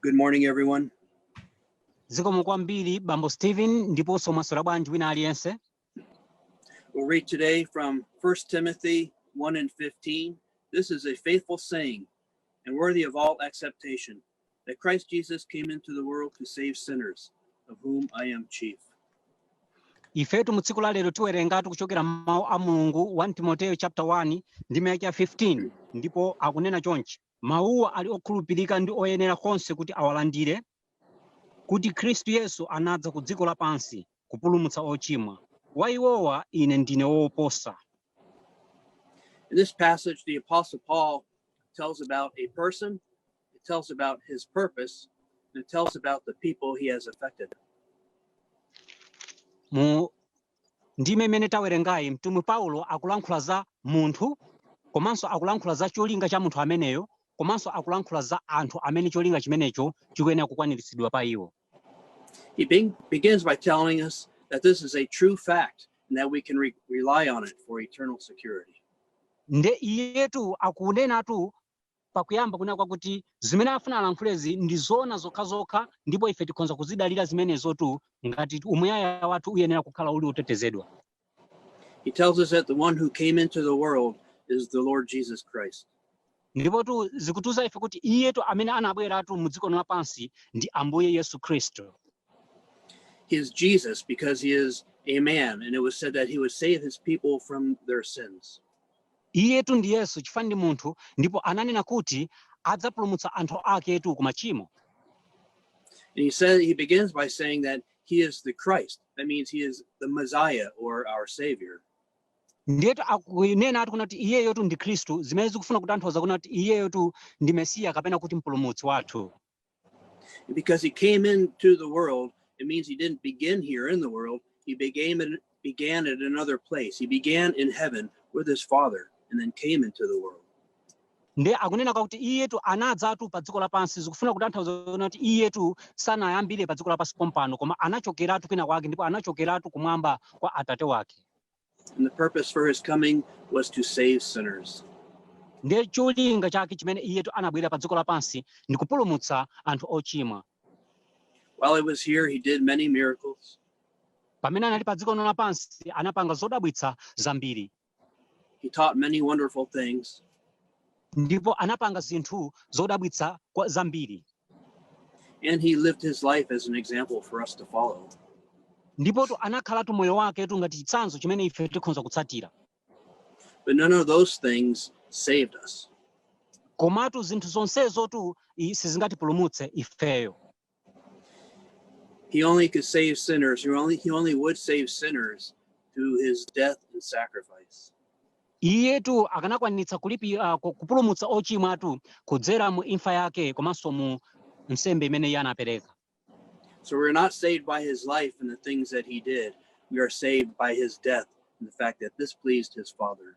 Good morning, everyone. zikomo kwambiri bambo stephen ndiponso mwaswera bwanji wina aliyense We'll read today from 1 Timothy 1 and 15. This is a faithful saying and worthy of all acceptation that Christ Jesus came into the world to save sinners, of whom I am chief. ifetu mu tsiku la lero tiwerengatu kuchokera m'mawu a mulungu 1 timoteyo chapter 1 ndime ka 15 ndipo akunena chonchi Mawuwa ali okhulupirika ndi oyenera konse kuti awalandire, kuti Khristu Yesu anadza ku dziko lapansi kupulumutsa ochimwa, wa iwowa ine ndine woposa. In this passage, the Apostle Paul tells about a person, it tells about his purpose, and it tells about the people he has affected. Mu Ndime imene tawerengayi, mtumwi Paulo akulankhula za munthu komanso akulankhula za cholinga cha munthu ameneyo komanso akulankhula za anthu amene cholinga chimenecho chikuyenera kukwaniritsidwa pa iwo. He be- begins by telling us that this is a true fact and that we can re- rely on it for eternal security. nde iyetu akunenatu Pakuyamba kunena kwakuti zimene afuna alankhulezi ndi zoona zokhazokha ndipo ife tikhonza kuzidalira zimenezotu ngati umuyaya wathu uyenera kukhala uli otetezedwa. He tells us that the one who came into the world is the Lord Jesus Christ. Ndipotu zikutiuza ife kuti iyetu amene anabweratu mu dziko lino lapansi ndi Ambuye Yesu Khristu. He is Jesus because he is a man and it was said that he would save his people from their sins. Iyetu ndi Yesu chifukwa ndi munthu ndipo ananena kuti adzapulumutsa anthu aketu ku machimo. And he says he begins by saying that he is the Christ. That means he is the Messiah or our Savior. Ndiyetu akunenatu kunena kuti iyeyotu ndi Khristu zimene zikufuna kutanthauza kunena kuti iyeyotu ndi Mesiya kapena kuti mpulumutsi wathu. And because he came into the world, it means he didn't begin here in the world. He began at, began at another place. He began in heaven with his Father and then came into the world. nde akunena kwakuti iyetu anadzatu pa dziko lapansi zikufuna kutanthauza kunena kuti iyetu sanayambire pa dziko lapansi pompano koma anachokeratu kwina kwake ndipo anachokeratu kumwamba kwa atate wake And the purpose for his coming was to save sinners. ndiye cholinga chake chimene iyetu anabwerera pa dziko lapansi ndi kupulumutsa anthu ochimwa While he was here, he did many miracles. pamene anali pa dziko lino lapansi anapanga zodabwitsa zambiri He taught many wonderful things. ndipo anapanga zinthu zodabwitsa zambiri And he lived his life as an example for us to follow. ndipotu anakhalatu moyo waketu ngati chitsanzo chimene ife tikhoza kutsatira But none of those things saved us. komatu zinthu zonsezotu sizingatipulumutse ifeyo He only could save sinners. He only, he only would save sinners through his death and sacrifice. iyetu akanakwanitsa kulipi uh, ku- kupulumutsa ochimwa atu kudzera mu imfa yake komanso mu nsembe imene iye anapereka So we're not saved by his life and the things that he did. We are saved by his death and the fact that this pleased his Father.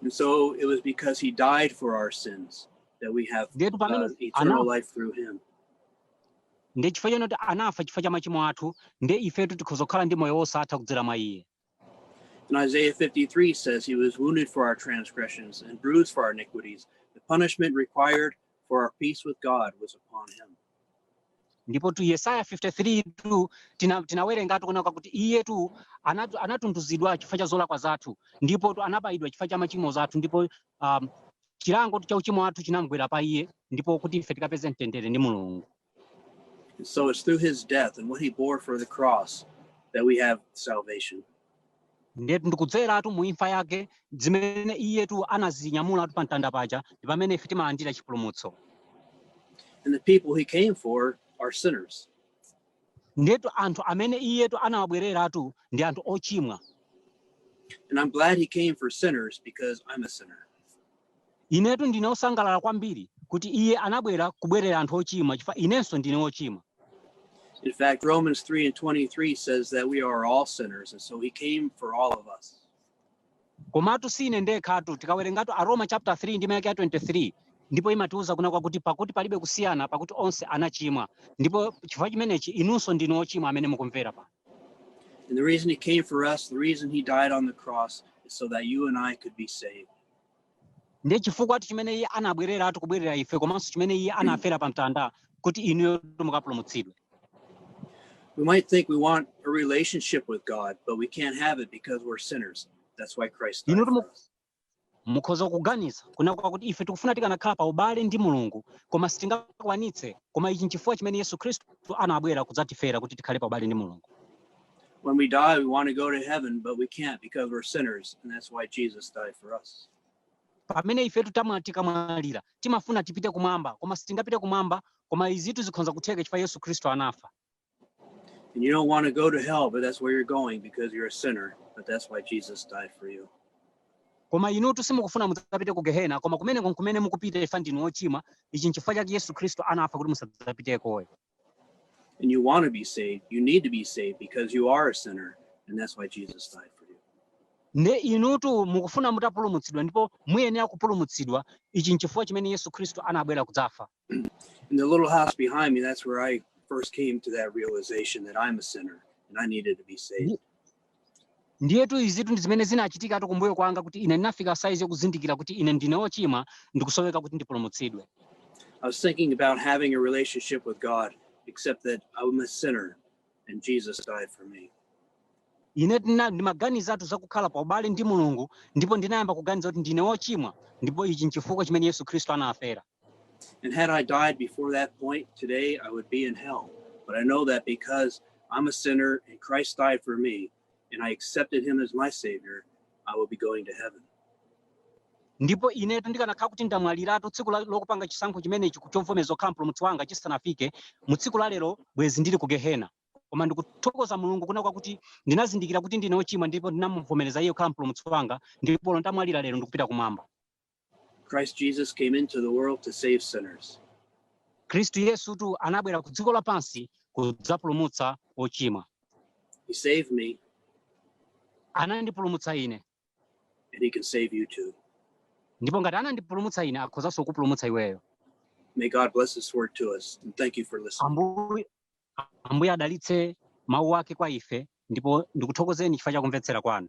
And so it was because he died for our sins that we have eternal life through him. ndiye chifukwa choti anafa chifukwa cha machimo athu ndiye ifetu tikhoza kukhala ndi moyo wosatha kudzera mwa iye And Isaiah 53 says he was wounded for our transgressions and bruised for our iniquities. The punishment required for our peace with God was upon him. ndipotu yesaya 53 tu tina- tinawerengatu kuna kwakuti iyetu anatu- anatunduzidwa chifukwa cha zolakwa zathu ndipotu anabayidwa chifukwa cha machimo zathu ndipo um, chilangotu cha uchimo wathu chinamgwera pa iye ndipo kuti ife tikapeze mtendere ndi mulungu And so it's through his death and what he bore for the cross that we have salvation. ndetu ndikudzeratu mu imfa yake zimene iyetu anazinyamulatu pa mtanda paja ndi pamene ife timalandira chipulumutso and the people he came for are sinners ndetu anthu amene iyetu anawabwereratu ndi anthu ochimwa and i'm glad he came for sinners because i'm a sinner Inetu ndine osangalala kwambiri kuti iye anabwera kubwerera anthu ochimwa chifukwa inenso ndine ochimwa. In fact, Romans 3 and 23 says that we are all sinners, and so he came for all of us. Komatu si ine ndekhatu tikawerengatu Aroma chapter 3 ndime yake ya 23 ndipo imatiuza kuna kwakuti pakuti palibe kusiyana pakuti onse anachimwa ndipo chifukwa chimenechi inunso ndinu ochimwa amene mukumvera pano. And the reason he came for us, the reason he died on the cross is so that you and I could be saved. ndiye chifukwatu chimene iye anabwereratu kubwerera ife komanso chimene iye anafera pa mtanda kuti inuyo mukapulumutsidwe We might think we want a relationship with God, but we can't have it because we're sinners. That's why Christ died. For us. mukhoza kuganiza kuna kwakuti ife tikufuna tikanakhala pa ubale ndi mulungu koma sitingakwanitse koma ichi nchifukwa chimene yesu khristu anabwera kudzatifera kuti tikhale pa ubale ndi mulungu When we die, we want to go to heaven, but we can't because we're sinners, and that's why Jesus died for us. pamene ifetu tamwa- tikamwalira timafuna tipite kumwamba koma sitingapite kumwamba koma izitu zikhonza kutheka chifukwa yesu khristu anafa And you don't want to go to hell, but that's where you're going because you're a sinner, but that's why Jesus died for you. koma inutu simukufuna mudzapite ku gehena koma kumeneko nkumene mukupita chifukwa ndinu ochimwa ichi nchifukwa chake yesu khristu anafa kuti musadzapiteko and you want to be saved, you need to be saved because you are a sinner, and that's why Jesus died for you. nde inutu mukufuna mutapulumutsidwa ndipo muyenera kupulumutsidwa ichi nchifukwa chimene yesu khristu anabwera kudzafa In the little house behind me, that's where I first came to that realization that I'm a sinner and I needed to be saved. ndiyetu izitu ndi zimene zinachitikatu kumbuyo kwanga kuti ine ndinafika saizi yokuzindikira kuti ine ndine wochimwa ndikusoweka kuti ndipulumutsidwe I was thinking about having a relationship with God, except that I'm a sinner and Jesus died for me. ine ndina- ndimaganizatu za kukhala pa ubale ndi mulungu ndipo ndinayamba kuganiza kuti ndine wochimwa ndipo ichi nchifukwa chimene yesu khristu anafera And had I died before that point today, I would be in hell. But I know that because I'm a sinner and Christ died for me and I accepted him as my savior, I will be going to heaven. ndipo inetu ndikanakhala kuti ndamwaliratu tsiku la- lokupanga chisankho chimenechi ku- chovomereza kukhala mpulumutsi wanga chisanafike mu tsiku la lero bwezi ndili ku gehena koma ndikuthokoza mulungu kuna kwakuti ndinazindikira kuti ndine ochimwa ndipo ndinamuvomereza iye kukhala mpulumutsi wanga ndipo olo ndamwalira lero ndikupita kumwamba Christ Jesus came into the world to save sinners. khristu yesutu anabwera ku dziko lapansi kudzapulumutsa ochimwa He saved me, anandipulumutsa ine and He can save you too. ndipo ngati anandipulumutsa ine akhozanso kupulumutsa iweyo May God bless His word to us, and thank you for listening. ambuye adalitse mawu ake kwa ife ndipo ndikuthokozeni chifukwa cha kumvetsera kwanu